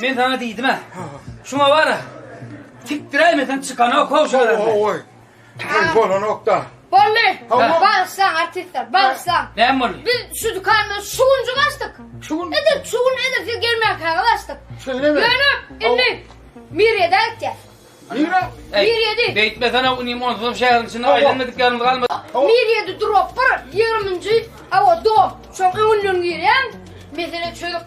Men sana diýdim-ä. Şuňa bar-a. Tikdiräýmesen çykanok how şalardan. Ey bolanokda. Boldy. Bagyşlaň artistler, bagyşlaň. Näme boldy? Biz şu dükanda şu günjik açdyk. Şu gün. Edil şu gün edil siz gelmänkäňiz açdyk. Şeýlemi? Ýöne indi Miriýede aýtýar. Nire? Miriýedi. Beýtmesene inim onsuzam şäheriň içinde aýlanmadyk ýerimiz galmady. Miriýede durup bir 20-nji awa dom. Şoň öňünden girýäň. Mesele çözüp